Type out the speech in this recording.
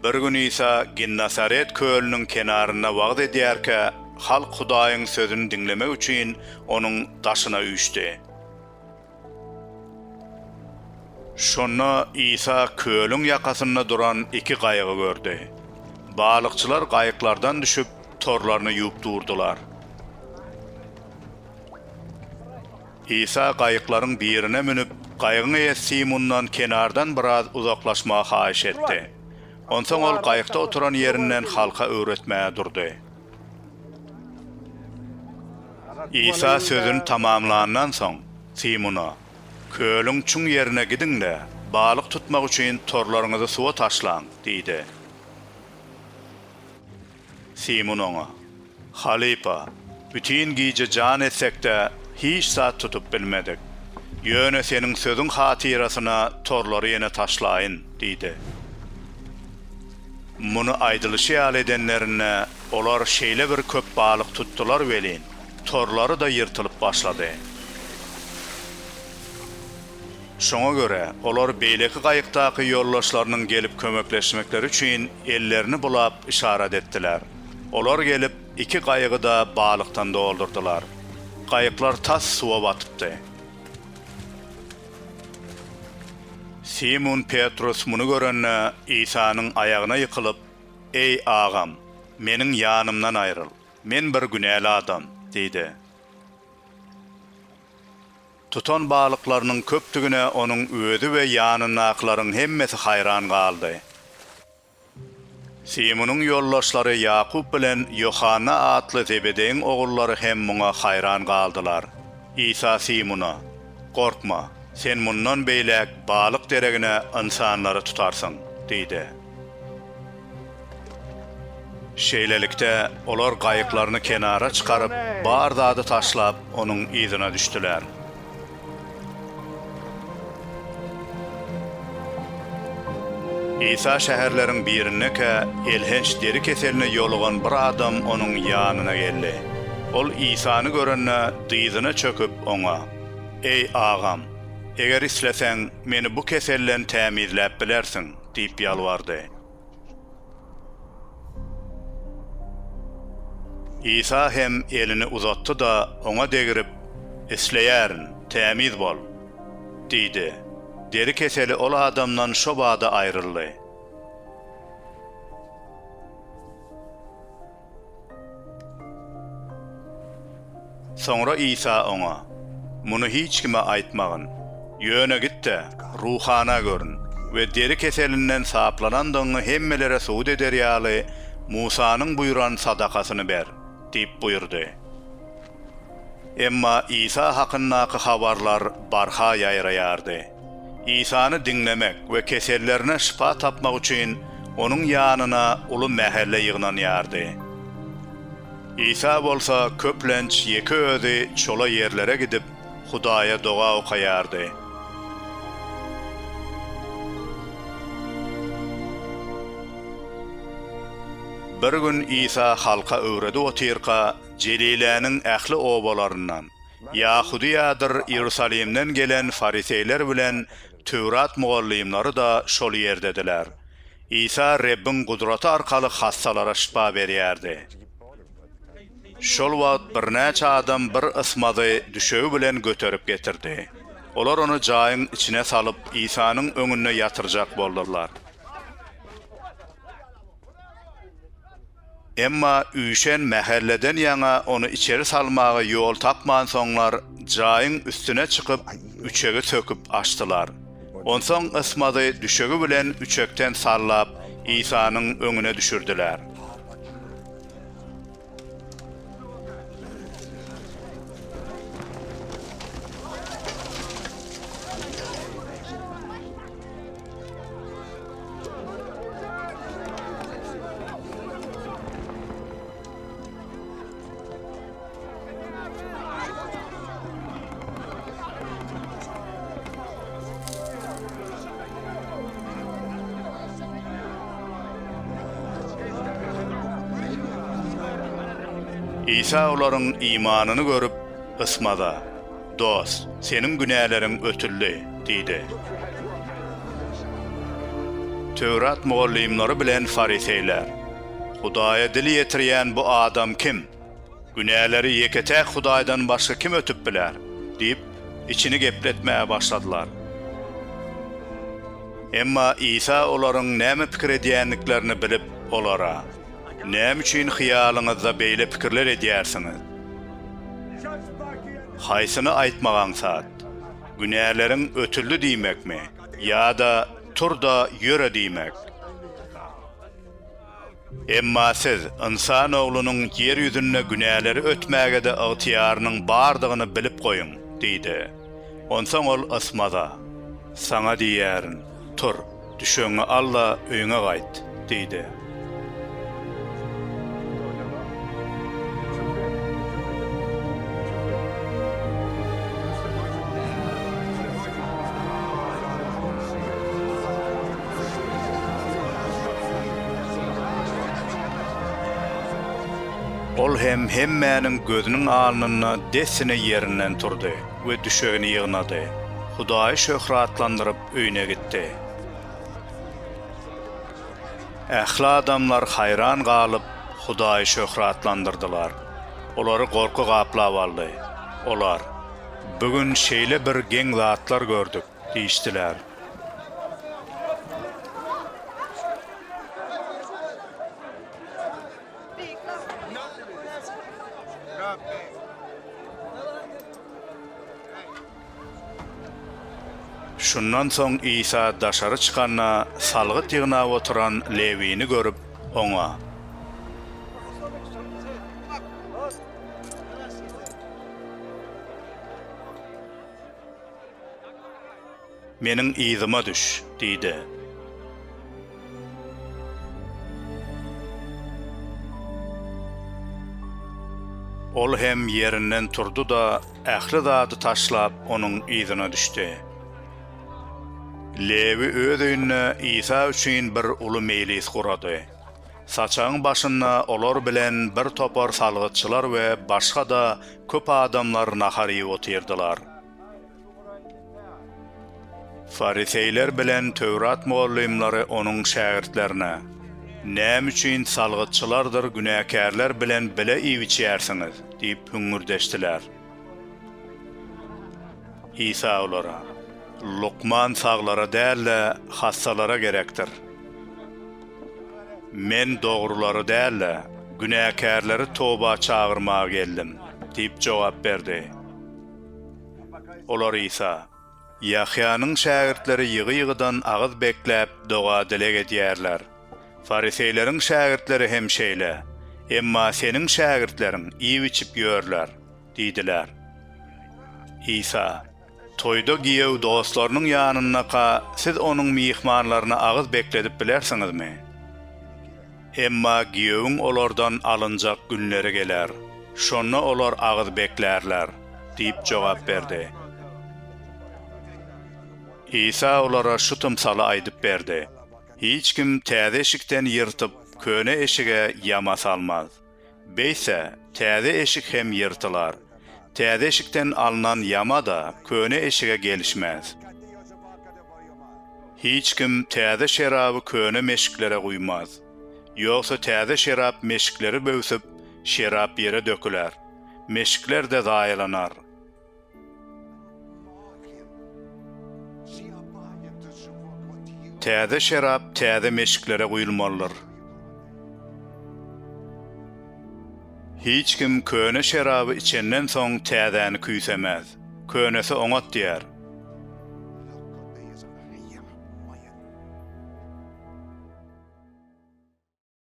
Bir gün Isa Ginnasaret kölüniň kenarynda wagyz edýärkä, halk Hudaýyň sözüni diňlemek üçin onuň daşyna üýşdi. Şonda Isa kölüň ýakasynda duran iki gaýygy gördi. Balykçylar gaýyklardan düşüp, torlaryny ýuwup durdular. Isa gaýyklaryň birine münüp, gaýygyň eýesi Simundan kenardan biraz uzaklaşmagy haýyş etdi. Onsoň ol gaýykda oturan ýerinden halka öwretmäge durdy. Isa sözüni tamamlandan soň, Simuna, Kölüň çuň ýerine gidiň-de, balyk tutmak üçin torlaryňyzy suwa taşlaň diýdi. Simun oňa, Halypa, bütin gije jan etsek-de, hiç zat tutup bilmedik. Ýöne seniň sözüň hatyrasyna torlary ýene taşlaýyn diýdi. Muny aýdylyşy ýaly edenlerinde, olar şeýle bir köp balyk tutdular welin, torlary-da ýyrtylyp başlady. Şoňa görä, olar beýleki gaýykdaky ýoldaşlarynyň gelip kömekleşmekleri üçin ellerini bulap yşarat etdiler. Olar gelip, iki gaýygy-da balykdan doldurdylar. Gaýyklar tas suwa batypdy. Simun Petrus muny görende, Isanyň aýagyna ýykylyp, Eý, Agam, meniň ýanymdan aýryl, men bir günäli adam! diýdi. Tutan balyklarynyň köpdügine onuň özi we ýanyndakylaryň hemmesi haýran galdy. Simunyň ýoldaşlary Ýakup bilen Ýohanna atly Zebedeýiň ogullary hem muňa haýran galdylar. Isa Simuna, Gorkma, sen mundan beýläk balyk deregine ynsanlary tutarsyň diýdi. Şeýlelikde, olar gaýyklaryny kenara çykaryp, bar zady taşlap, onuň yzyna düşdüler. Isa şäherleriň birindekä, elhenç deri keseline ýolugan bir adam onuň ýanyna geldi. Ol Isany görende, dyzyna çöküp, oňa, Eý, Agam, eger isleseň, meni bu keselden tämizläp bilersiň. Diýip ýalbardy. Isa hem elini uzatdy-da, oňa degrip, Isleýärin, tämiz bol! diýdi. Deri keseli ol adamdan şo bada aýryldy. Soňra Isa oňa, Muny hiç kime aýtmagyn. Ýöne git-de, ruhana görün we deri keselinden saplanandygyňy hemmelere subut eder ýaly, Musanyň buýran sadakasyny ber diýip buýurdy. Emma Isa hakyndaky habarlar barha ýaýraýardy. Isany diňlemek we kesellerine şypa tapmak üçin onuň ýanyna uly mähelle ýygnanýardy. Isa bolsa köplenç ýeke özi çola ýerlere gidip, Hudaýa doga okaýardy. Bir gün Isa halka öwredip otyrka, Jeliläniň ähli obalaryndan, Ýahudyýadyr Iýerusalimden gelen fariseýler bilen Töwrat mugallymlary-da şol ýerdediler. Isa Rebbiň gudraty arkaly hassalara şypa berýärdi. Şol wagt birnäçe adam bir ysmazy düşegi bilen göterip getirdi. Olar ony jaýyň içine salyp, Isanyň öňünde ýatyrjak boldular. Emma üýşen mähelleden ýaňa ony içeri salmaga ýol tapmansoňlar, jaýyň üstüne çykyp, üçegi söküp açdylar. Onsoň Ysmazy düşegi bilen üçekden sallap, Isanyň öňüne düşürdiler. Isa olaryň imanyny görüp, ysmady. Dost, seniň günäleriň ötüldi, diýdi. Töwrat mugallymlary bilen fariseýler, Hudaýa dil ýetirýän bu adam kim? Günäleri ýeke-täk Hudaýdan başga kim ötüp biler? diýip, içini gepletmäge başladylar. Emma Isa olaryň näme pikir edýändiklerini bilip, olara. Näme üçin hyýalyňyzda beýle pikirler edýärsiňiz? Haýsyny aýtmak aňsat? Günäleriň ötüldi diýmekmi ýa-da Tur-da, ýöre diýmek? Emma siz Ynsan Oglunyň ýer ýüzünde günäleri ötmäge-de ygtyýarynyň bardygyny bilip goýuň! diýdi. Onsoň ol Ysmaza. Saňa diýýärin, Tur, düşegiňi al-da, öýüňe gaýt, diýdi. Ol hem hemmäniň gözüniň alnynda dessine ýerinden turdy we düşegini ýygnady. Hudaýy şöhratlandyryp, öýüne gitdi. Ähli adamlar haýran galyp, Hudaýy şöhratlandyrdylar. Olary gorky gaplap aldy. Olar, Bu gün şeýle bir geň zatlar gördük! diýişdiler. Şundan soň Isa daşary çykanda, salgyt ýygnap oturan Lewini görüp, oňa. Meniň yzyma düş! diýdi. Ol hem ýerinden turdy-da, ähli zady taşlap, Onuň yzyna düşdi. Lewi öz öýünde Isa üçin bir uly meýlis gurady. Saçagyň başynda olar bilen bir topar salgytçylar we başga-da köp adamlar nahar iýip otyrdylar. Fariseýler bilen Töwrat mugallymlary Onuň şägirtlerine, Näme üçin salgytçylardyr günäkärler bilen bile iýip-içýärsiňiz? diýip hüňňürdeşdiler. Isa olara, Lukman saglara däl-de, hassalara gerekdir. Men dogrulary däl-de, günäkärleri toba çagyrmaga geldim diýip jogap berdi. Olar Isa, Ýahýanyň şägirtleri ýygy-ýygydan agyz bekläp, doga-dileg edýärler. Fariseýleriň şägirtleri hem şeýle, emma seniň şägirtleriň iýip-içip ýörler diýdiler. Isa, Toýda giýew dostlarynyň ýanyndaka siz onuň myhmanlaryny agyz bekledip bilersiňizmi? Emma giýewiň olardan alynjak günleri geler, şonda olar agyz beklärler diýip jogap berdi. Isa olara şu tymsaly aýdyp berdi, Hiç kim täze eşikden ýyrtyp, köne eşige ýama salmaz. Beýtse, täze eşik hem ýyrtylar. Täze eşikden alnan ýama-da köne eşige gelişmez. Hiç kim täze şeraby köne meşiklere guýmaz. Ýogsa täze şerap meşikleri böwsüp, şerap ýere döküler. Meşikler-de zaýalanar. Täze şerap täze meşiklere guýulmalydyr. Hiç kim köne şeraby içenden soň täzäni küýsemäz. Könesi oňat diýer.